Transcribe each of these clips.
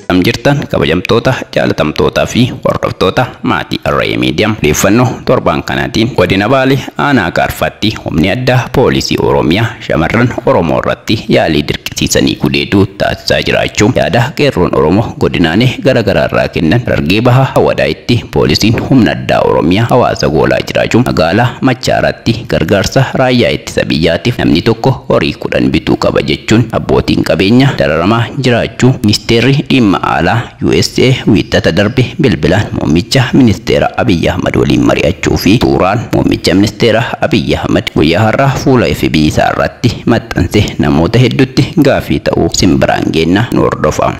Akkam jirtan kabajamtoota, jaalatamtootaa fi hordoftoota maatii Arrayee Media. Odeeffannoo torbaan kanaatiin Godina Baalee Aanaa Gaarfaatti Humni Addaa Poolisii Oromiyaa shamarran Oromoo irratti yaalii dirqisiisanii gudeeduu taasisaa jiraachuu yaada Qeerroon Oromoo godinaalee gara garaa irraa kennan Harargee Bahaa Awadaayitti Poolisiin Humna Addaa Oromiyaa hawaasa goolaa jiraachuu Magaalaa Machaaraatti gargaarsa Raayyaa Ittisa Biyyaatiif namni tokko horii 10 bituu qaba jechuun abbootiin qabeenyaa dararamaa jiraachuu Ministeerri Dhimma Alaa usa Wiixata darbe bilbilaan Muummicha Ministeera Abiy Ahmad waliin mari'achuu fi suuraan Muummicha Ministeera Abiy Ahmad guyyaa har'aa fuula FB isaa irratti maxxanse namoota hedduutti gaaffii ta'uu isin biraan geenna nu hordofaa.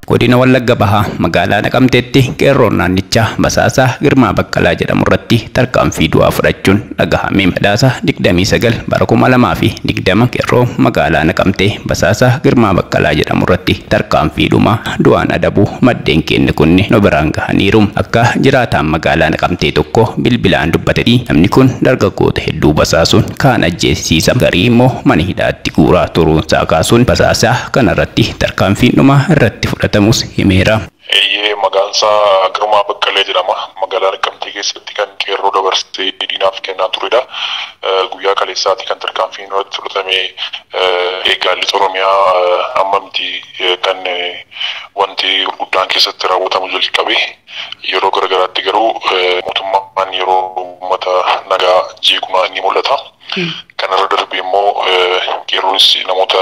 Godina Wallagga Bahaa magaalaa Naqamteetti qeerroon naannichaa basaasaa Girmaa Baqqalaa jedhamurratti tarkaanfii du'aa fudhachuun dhagahame. Sadaasa 29 bara 2020 qeerroo magaalaa Naqamtee basaasaa Girmaa Baqqalaa jedhamurratti tarkaanfii dhumaa du'aan adabuu maddeen keenya kunni nu biraan gahaniiru. Akka jiraataan magaalaa Naqamtee tokko bilbilaan dubbatetti namni kun dargaggoota hedduu basaasuun kaan ajjeesisiisa garii immoo mana hidhaatti guuraa turuunsaa kaasuun basaasaa kanarratti tarkaanfiin dhumaa irratti fudhatamuus himeera. Eeyyee maqaansaa Girmaa Baqqalee jedhama. Magaalaa Naqqamtee keessatti kan qeerroo dabarsee diinaaf kennaa turedha. Guyyaa kaleessaati kan tarkaanfiin irratti fudhatame. Egaa Lixa Oromiyaa amma miti kan wanti gurguddaan keessatti raawwatamu jalqabe. Yeroo garagaraatti garuu mootummaan yeroo uummata nagaa jeequ ni mul'ata. Kanarra darbee immoo qeerroonis namoota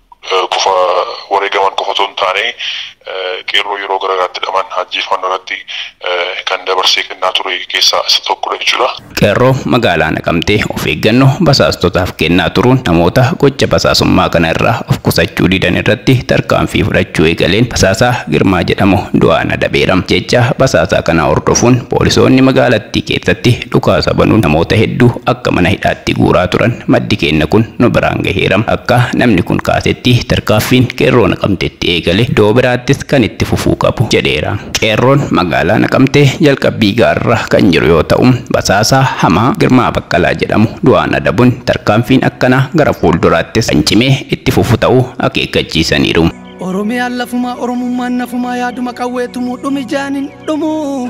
qofa wareegaman qofa otoo hin taane qeerroo yeroo gara garaatti hidhaman ajjeefaman irratti kan dabarsee kennaa ture keessaa isa tokkodha jechuudha. Qeerroo magaalaa Naqamtee of eeggannoo basaastotaaf kennaa turuun namoota gocha basaasummaa kana irraa of qusachuu didan irratti tarkaanfii fudhachuu eegaleen basaasaa Girmaa jedhamu du'aan adabeera. Jecha basaasaa kanaa hordofuun poolisoonni magaalattii keessatti Dhukaasa banuun namoota hedduu akka mana hidhaatti guuraa turan maddi keenna kun nu biraan gaheera. Akka namni kun kaasetti tarkaaffiin Qeerroo Naqamteetti eegale doo biraattis kan itti fufuu qabu jedheera. Qeerroon magaalaa Naqamtee jalqabbii gaarra kan jiru yoo ta'u, basaasaa hamaa Girmaa Baqqalaa jedhamu du'aan adabuun tarkaanfiin akkanaa gara fuulduraattis kan cimee itti fufu ta'uu akeekkachiisaniiru. Oromiyaan lafumaa Oromummaan nafumaa yaaduma qawwee tumuu dhumi jaaniin dhumuu.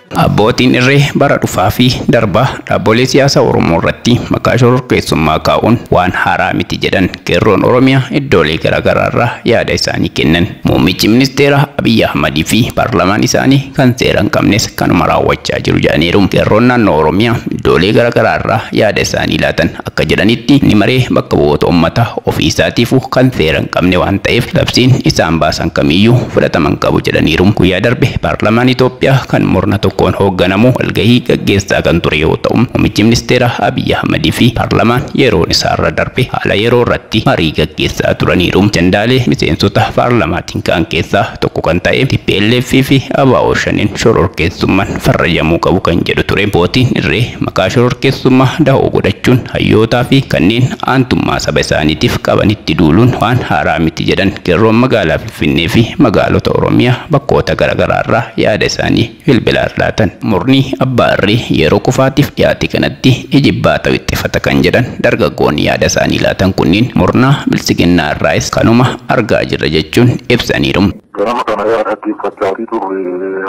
Abbootiin irree bara dhufaa fi darbaa dhaabbolee siyaasaa Oromoo irratti maqaa shororkeessummaa kaa'uun waan haaraa miti jedhan Qeerroon Oromiyaa iddoolee garaagaraa irraa yaada isaanii kennan. Muummichi ministeeraa Abiy Ahmad fi paarlaamaan isaanii kan seera hin qabnes kanuma raawwachaa jiru jedhaniiru. Qeerroon naannoo Oromiyaa iddoolee garaagaraa irraa yaada isaanii laatan Akka jedhanitti mni maree bakka bu'oota ummata ofii isaatiifu kan seera hin qabne waan ta'eef labsiin isaan baasan kamiyyuu fudhatama hin qabu jedhaniiru. Guyyaa darbe paarlamaan Itoophiyaa kan murna tokkoon hoogganamu walgahii gaggeessaa kan ture yoo ta'u, muummichi ministeeraa Abiy Ahmad fi paarlamaan yeroon isaarra darbe haala yeroo irratti marii gaggeessaa turaniiru. Ajandaalee miseensota paarlamaatiin ka'an keessaa tokko kan ta'e tplf fi abo-shaneen shororkeessumman farrajamuu qabu kan jedhu ture. Abbootiin irree maqaa shororkeessummaa dahoo godhachuun hayyootaa fi kanneen aantummaa saba isaaniitiif qabanitti duuluun waan haaraa miti jedhan qeerroon magaalaa Finfinnee fi magaalota Oromiyaa bakkoota garaagaraarraa yaada isaanii bilbilaan laatan. Murni abbaa irree yeroo kufaatiif dhiyaate kanatti ijibbaata wixxifata kan jedhan dargaggoonni yaada isaanii laatan kunniin murna biltsiginnaa irraayis kanuma argaa jirra jechuun ibsaniiru. Ganama kana yaa dhaggeeffachaatii turre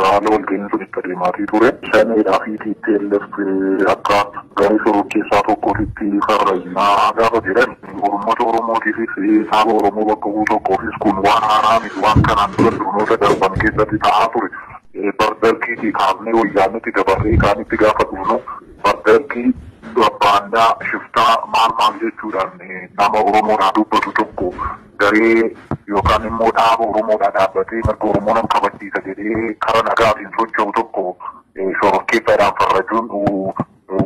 haala walga'iin sun itti adeemaatii ture. Shaneedhaa fi tplf akka garee shororkeessaa tokkootitti farrajnaa gaafa jedhan uummata Oromootiifis saaba Oromoo bakka bu'u tokkoofis kun waan haaraa miti waan kanaan dura sirnoota darban keessatti ta'aa ture. Bara Dargiitii kaafnee Wayyaaneetti dabarree kaanitti gaafa dhufnu bara Dargii baandaa, shiftaa maal maal jechuudhaan nama Oromoodhaa dubbatu tokko garee yookaan immoo dhaaba Oromoodhaa dhaabbatee mirga Oromoo nan kabachiisa jedhee kara nagaatiin socho'u tokko shororkeessaadhaan farrajuun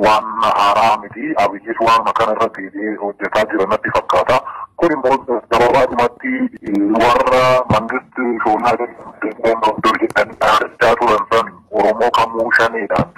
waan haaraa miti. Abiyyis waanuma kana irra deebi'ee hojjetaa jira natti fakkaata. Kun immoo gababaadhumatti warra mangisti shoonaa jedhan dur jedhan dhaadachaa turan san Oromoo kamuu shaneedhaan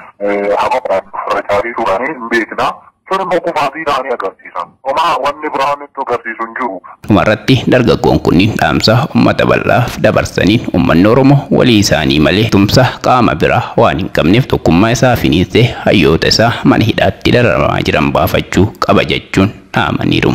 habaquun ofirra caalii turanii hin beekna. Sun immoo kufaatii isaanii agarsiisa. Homaa wanni biraa nutti agarsiisu hin jiru. Dhumarratti dargaggoon kunniin dhaamsa ummata bal'aaf dabarsaniin ummanni Oromoo walii isaanii malee tumsa qaama biraa waan hin qabneef tokkummaa isaa finiinsee hayyoota isaa mana hidhaatti dararamaa jiran baafachuu qaba jechuun dhaamaniiru.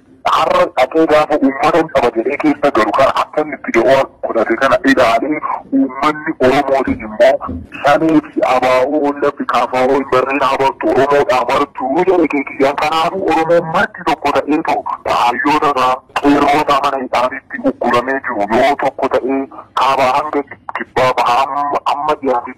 Har'a dhaqee gaafa ummatan qaba jedhee keessa galu kana akka inni itti da'oo godhate kana ilaalee uummanni Oromootiin immoo Shanee fi Abaa'oo Ollaffi Kaafaa'oo hin barreen habartu Oromoodhaa martuu jedhe keekiyyaa kanaafuu Oromoon marti tokko ta'ee too kaayyoota isaa qeerroota mana hidhaanitti ugguramee jiru yoo tokko ta'ee kaabaa hanga kibbaa bahaa amma dhiyaate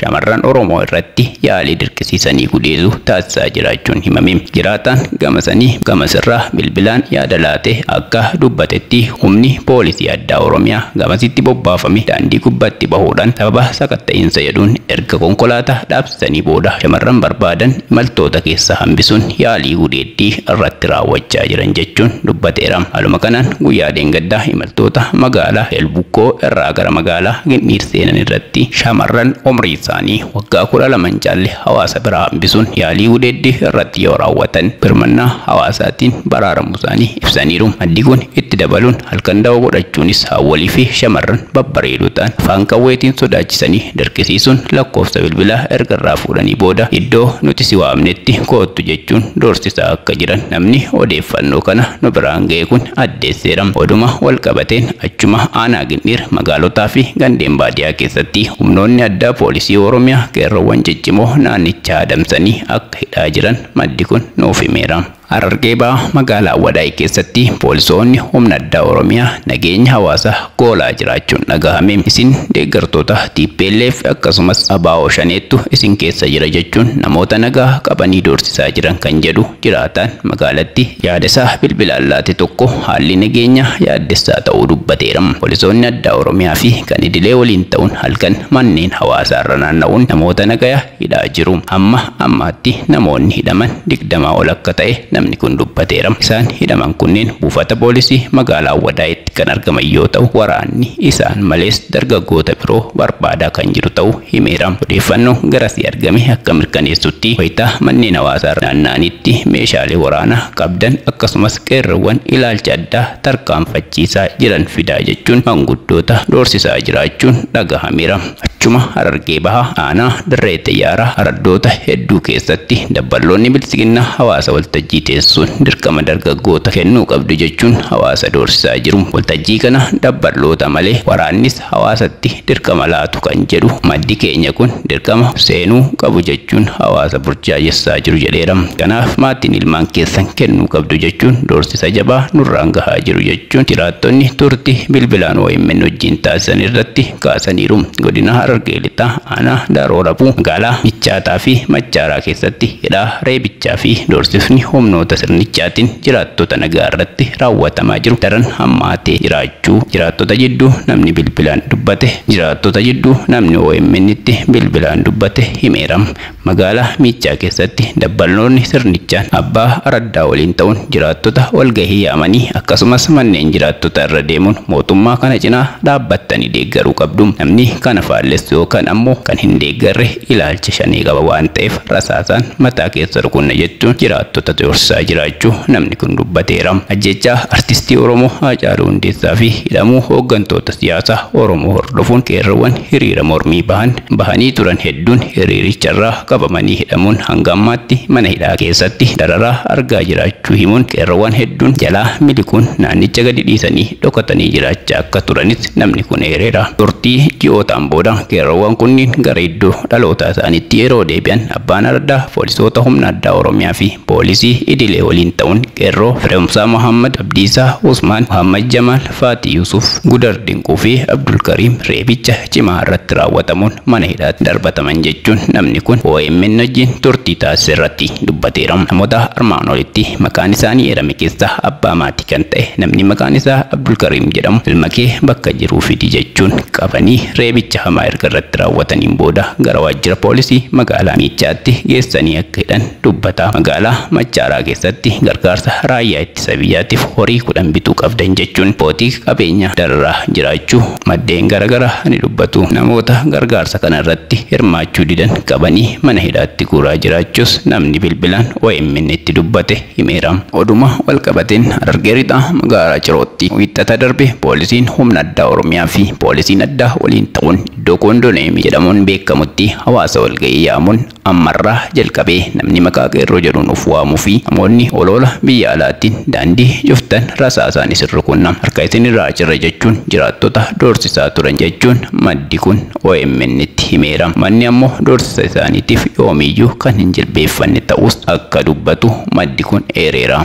shamarran Oromoo irratti yaalii dirqisiisanii gudeeduu taasisaa jiraachuun himame. Jiraataan gamasanii gamas irraa bilbilaan yaada laate akka dubbatetti humni poolisii addaa Oromiyaa gamasitti bobbaafame daandii gubbatti bahuudhaan sababa sakatta'iinsa jedhuun erga konkolaataa dhaabsisanii booda shamarran barbaadan imaltoota keessaa hambisuun yaalii gudeedduu Tti irratti raawwachaa jiran jechuun dubbateera. Haaluma kanaan guyyaa dheengaddaa imaltoota magaalaa Elbukkoo irraa gara magaalaa Gindhiir seenan irratti shamarran umrii isaanii waggaa 12 hin caalle hawaasa biraa hambisuun yaalii gudeeddii irratti yoo raawwatan birmannaa hawaasaatiin baraaramuu isaanii ibsaniiru. Maddi kun itti dabaluun halkan dawoo godhachuunis haawwolii fi shamarran babbareedoo ta'an afaan qawweetiin sodaachisanii dirqisiisuun lakkoofsa bilbilaa erga irraa fuudhanii booda iddoo nuti si waamnetti koottu jechuun doorsisaa akka jiran namni odeeffannoo kana nu biraan ga'e kun addeesseera. Oduma walqabateen achuma aanaa Gindhiir magaalotaa fi gandeen baadiyaa keessatti humnoonni addaa poolisii Oromiyaa qeerroowwan ciccimoo naannichaa adamsanii akka hidhaa jiran maddi kun nuuf himeera. Harargee Bahaa magaalaa Awwadaay keessatti poolisoonni humna addaa Oromiyaa nageenya hawaasaa goolaa jiraachuun dhagahame. Isin deeggartoota tplf akkasumas abo Shaneettu isin keessa jira jechuun namoota nagaa qabanii doorsisaa jiran kan jedhu jiraataan magaalatti yaada isaa bilbilaan laate tokko haalli nageenyaa yaaddessaa ta'uu dubbateera. Poolisoonni addaa Oromiyaa fi kan idilee waliin ta'uun halkan manneen hawaasaarra naanna'uun namoota nagaya. hidhaa jiru. Hamma ammaatti namoonni hidhaman digdama ol akka ta'e namni kun dubbateera. Isaan hidhaman kunneen buufata poolisii magaalaa Awwadaayitti kan argaman yoo ta'u, waraanni isaan malees dargaggoota biroo barbaadaa kan jiru ta'uu himeera. Odeeffannoon garasii argame akka mirkaneessutti, wayita manneen hawaasaarra naanna'anitti meeshaalee waraanaa qabdan akkasumas qeerroowwan ilaalcha addaa tarkaanfachiisaa jiran fidaa jechuun manguddoota doorsisaa jiraachuun dhagahameera. Achuma Harargee Bahaa aanaa Dirree Xiyyaaraa araddoota hedduu keessatti dabballoonni Biltsiginnaa hawaasa waltajjii teessisuun dirqama dargaggoota kennuu qabdu jechuun hawaasa doorsisaa jiru. Waltajjii kana dabballoota malee waraannis hawaasatti dirqama laatu kan jedhu maddi keenya kun dirqama seenuu qabu jechuun hawaasa burjaajessaa jiru jedheera. Kanaaf maatiin ilmaan keessan kennuu qabdu jechuun doorsisa jabaa nurraan gahaa jiru jechuun jiraattonni turtii bilbilaan omn wajjiin taasisan irratti kaasaniiru. Godina Harargee Lixaa aanaa Daaroo Rabuu magaalaa Bichaataa fi Maccaaraa keessatti hidhaa, reebichaa fi doorsifni humnoota sirnichaatiin jiraattota nagaa irratti raawwatamaa jiru daran hammaatee jiraachuu jiraattota jidduu namni bilbilaan dubbate jiraattota jidduu namni OMN-tti bilbilaan dubbate himeera. Magaalaa Miiccaa keessatti dabballoonni sirnichaan abbaa araddaa waliin ta'uun jiraattota walgahii yaamanii akkasumas manneen jiraattotaa irra deemuun mootummaa kana cinaa dhaabbattanii deeggaruu qabdu, namni kana faallessu yookaan ammoo kan hin deeggarre ilaalcha Shanee qaba waan ta'eef rasaasaan mataa keessa rukunna jechuun jiraattota doorsisaa jiraachuu namni kun dubbateera. Ajjeechaa Artistii Oromoo Haacaaluu Hundeessaafi hidhamuu hooggantoota siyaasaa Oromoo hordofuun qeerroowwan hiriira mormii bahan bahanii turan hedduun hiriiricharraa qabamanii hidhamuun hanga ammaatti mana hidhaa keessatti dararaa argaa jiraachuu himuun qeerroowwan hedduun jalaa miliquun naannicha gadi dhiisanii dhokatanii jiraachaa akka turanis namni kun eereera. Turtii ji'ootaan booda qeerroowwan kunniin gara iddoo dhalootaa isaaniitti yeroo deebi'an Abbaan Ardaa poolisoota humna addaa Oromiyaa fi poolisii idilee waliin ta'uun qeerroo Firehumsaa Mohaammad, Abdiisaa Usmaan, Mohaammad Jamaal, Faaxii Yusuuf, Gudar Dinquu fi Abdulkariim reebicha cimaa irratti raawwatamuun mana hidhaatti darbataman jechuun namni kun omn wajjin turtii taasise irratti dubbateera. Namoota armaan olitti maqaan isaanii eerame keessaa abbaa maatii kan ta'e namni maqaan isaa Abdulkariim jedhamu ilma kee bakka jiruu fidi jechuun qabanii reebicha hamaa erga irratti raawwataniin booda gara waajjira poolisii magaalaa Miichaatti geessanii akka hidhan dubbata. Magaalaa Machaaraa keessatti gargaarsa raayyaa Isa biyyaatiif horii 10 bituu qabdan jechuun abbootii qabeenyaa dararaa jiraachuu maddeen garagaraa ni dubbatu. Namoota gargaarsa kana irratti hirmaachuu didan qabanii mana hidhaatti guuraa jiraachuus namni bilbilaan OMNtti dubbate himeera. Oduma walqabateen Harargee Lixaa magaalaa Cirootti Wiixata darbe poolisiin humna addaa Oromiyaa fi poolisiin addaa waliin ta'uun iddoo Koondoneemii jedhamuun beekamutti hawaasa walga'ii yaamuun Ammarraa jalqabee namni maqaa qeerroo jedhuun of waamuu fi namoonni oloola biyya alaattiin daandii cuftan rasaasaan isin rukunna, harka isin irraa cirra jechuun jiraattota doorsisaa turan jechuun maddi kun OMNtti himeera. Uummanni ammoo doorsisa isaaniitiif yoomiyyuu kan hin jilbeeffanne ta'uus akka dubbatu maddi kun eereera.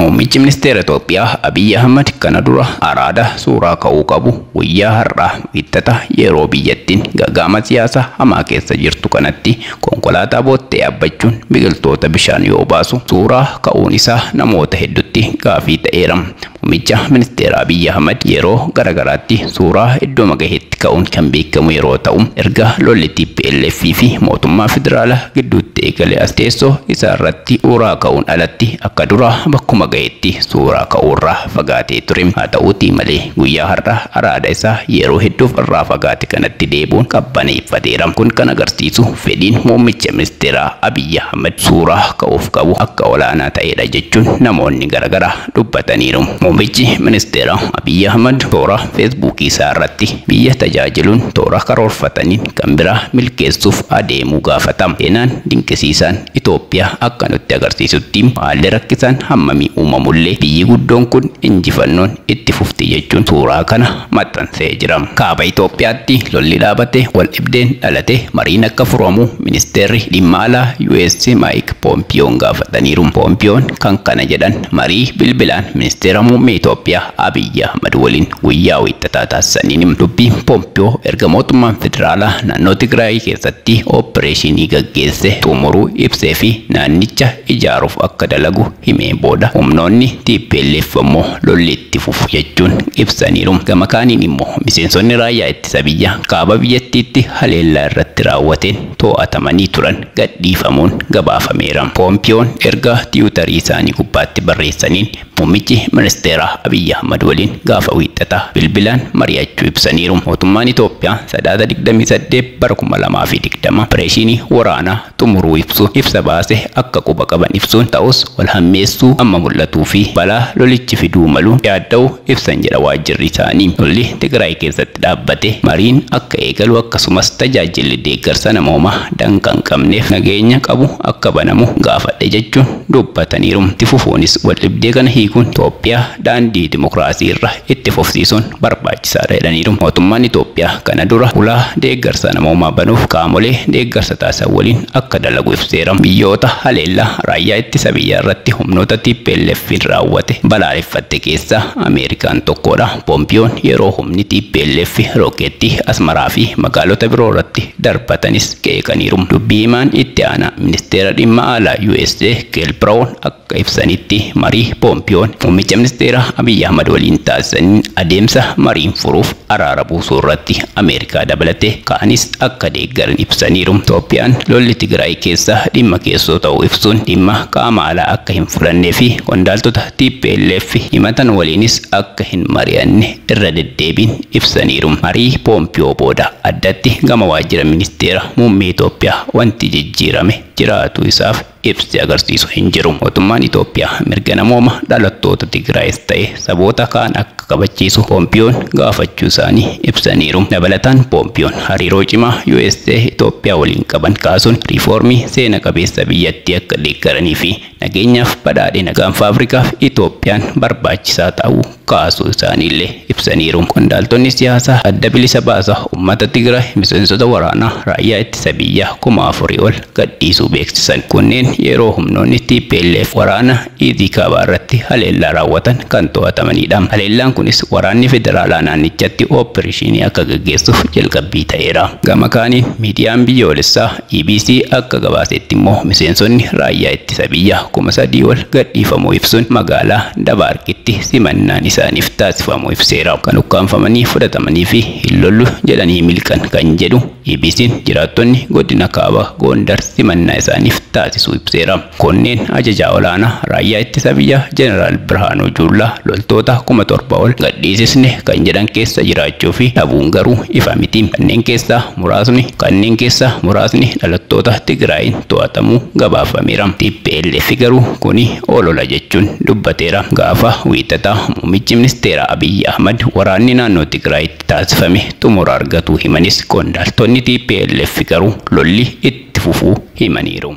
Muummichi Ministeera Itoophiyaa Abiy Ahmad kana dura araada suuraa ka'uu qabu guyyaa har'aa Wiixxata yeroo biyyattiin gaga'ama siyaasaa hamaa keessa jirtu kanatti konkolaataa boottee yaabbachuun biqiltoota bishaan yoo baasu suuraa ka'uun isaa namoota heddutti gaafii ta'eera. Muummicha Ministeera Abiy Ahmad yeroo garagaraatti Suuraa iddooma gahetti ka'uun kan beekamu yeroo ta'u, erga lolli tplf fi mootummaa federaala gidduutti eegale as teessoo isaa irratti uuraa ka'uun alatti akka duraa bakkuma gahetti suuraa ka'uu irraa fagaatee ture. Haa ta'uutii malee guyyaa har'aa araada isaa yeroo hedduuf irraa fagaate kanatti deebi'uun qabbaneeffateera. Kun kan agarsiisu fedhiin muummicha ministeeraa Abiy Ahmed suuraa ka'uuf qabu akka olaanaa ta'eedha jechuun namoonni garagaraa dubbataniiru. Muummichi ministeeraa Abiy Ahmad toora Feesbuukii isaa irratti biyya tajaajiluun toora karoorfataniin kan biraa milkeessuuf adeemuu gaafata. Seenaan dinqisiisaan Itoophiyaa akka nutti agarsiisutti haalli rakkisaan hammamii uumamullee biyyi guddoon kun injifannoon itti fufti jechuun suuraa kana maxxansee jira. Kaaba Itoophiyaatti lolli dhaabate, waldhibdeen dhalate mariin akka furamu Ministeerri Dhimma Alaa US Maayik Poompiyoon gaafataniiru. Poompiyoon kan kana jedhan marii bilbilaan Ministeera Muummee Itoophiyaa Abiyyi Ahmad waliin guyyaa Wiixataa taasisaniini. Dubbii Poompiyoo erga mootummaan federaalaa naannoo Tigraay keessatti oppireeshinii gaggeesse xumuruu ibseefi naannicha ijaaruuf akka dalagu himeen booda humnoonni tplf ammoo lolli itti fufu jechuun ibsaniiru. Gama kaaniin immoo miseensonni raayyaa ittisa biyyaa kaaba biyyattiitti haleellaa irratti raawwateen too'atamanii turan gadhiifamuun gabaafameera. Poompiyoon ergaa tiwutarii isaanii gubbaatti barreessaniin muummichi ministeeraa Abiy Ahmad waliin gaafa Wiixxataa bilbilaan mari'achuu ibsaniiru. Mootummaan Itoophiyaa Sadaasa digdamii saddeet bara kuma lamaa fi digdama opereeshiinii waraanaa xumuruu ibsu ibsa baase akka quba qaban ibsuun ta'us wal hammeessuu amma mul'atuu fi balaa lolichi fiduu malu yaadda'u ibsan jedha waajjirri isaanii. Lolli Tigraay keessatti dhaabbate mariin akka eegalu akkasumas tajaajilli deeggarsa namoomaa danqaa hin qabneef nageenya qabu akka banamu gaafadhe jechuun dubbataniiru. Itti fufuunis waldhibdee kana hiikuun Toophiyaa daandii dimokiraasii irra itti fufsiisuun barbaachisaadha jedhaniiru. Mootummaan Itoophiyaa kana dura ulaa deeggarsa namoomaa banuuf qaamolee deeggarsa taasisan waliin akka dalagu ibseera. Biyyoota haleellaa raayyaa ittisa biyyaa irratti humnoota TPLF'n raawwate balaaleffatte keessaa Ameerikaan tokkoodha. Poompiyoon yeroo humni tplf rookeettii Asmaraa fi magaalota biroo irratti darbatanis qeeqaniiru. Dubbii himaan itti aanaa ministeera dhimma alaa usa Keel Biraawun akka. Akka ibsanitti, marii Poompiyoon muummicha ministeeraa Abiy Ahmad waliin taasisaniin adeemsa mariin furuuf araara buusuurratti Ameerikaa dabalatee kaanis akka deeggaran ibsaniiru. Itoophiyaan lolli Tigraay keessaa dhimma keessoo ta'uu ibsuun, dhimma qaama alaa akka hin fudhannee fi qondaaltota tplf himatan waliinis akka hin mari'anne irra deddeebiin ibsaniiru. Marii Poompiyoo booda addatti gama waajjira ministeera muummee Itoophiyaa wanti jijjiirame jiraatuu isaaf. ibsi agarsiisu hin jiru. Mootummaan Itoophiyaa mirga namooma dhalattoota Tigraayis ta'e saboota kaan akka kabachiisu Poompiyoon gaafachuu isaanii ibsaniiru. Dabalataan Poompiyoon hariiroo cimaa usa Itoophiyaa waliin qaban kaasuun riifoormii seena qabeessa biyyattii akka deeggaranii fi nageenyaaf badhaadhina Gaanfa Afrikaaf Itoophiyaan barbaachisaa ta'uu kaasuu isaaniillee ibsaniiru. Qondaaltonni siyaasaa Adda Bilisa Baasa Ummata Tigraay miseensota waraanaa Raayyaa Ittisa Biyyaa kuma afurii ol gadhiisuu beeksisan. Kunneen yeroo humnoonni tplf waraana Iizii Kaabaa irratti haleellaa raawwatan kan to'atamaniidha. Haleellaan kunis waraanni federaalaa naannichatti ooppereeshiinii akka gaggeessuuf jalqabbii ta'eera. Gama kaaniin miidiyaan biyyoolessaa Bbc akka gabaaseetti immoo miseensonni raayyaa ittisa biyyaa kuma sadii ol gadhiifamuu ibsuun magaalaa Dabaarqitti simannaan isaaniif taasifamuu ibseera. Kan ukkaamfamanii fudhatamanii fi hin lollu jedhanii miliqan kan jedhu EBC'n jiraattonni godina kaaba Goondar simannaa isaaniif taasisuu ibseera. Kunneen Ajajaa Olaanaa Raayyaa Ittisa Biyyaa Jeneraal Birhaanuu Juullaa loltoota kuma torba ol gadhiisisne kan jedhan keessa jiraachuu fi dhabuun garuu ifa miti. Kanneen keessaa muraasni kanneen keessaa muraasni dhalattoota Tigraayiin to'atamuu gabaafameera. Tplf garuu kuni olola jechuun dubbateera. Gaafa Wiixataa Muummichi Ministeeraa Abiy Ahmad waraanni naannoo Tigraayitti taasifame xumura argatuu himanis qondaaltonni tplf garuu lolli itti fufuu himaniiru.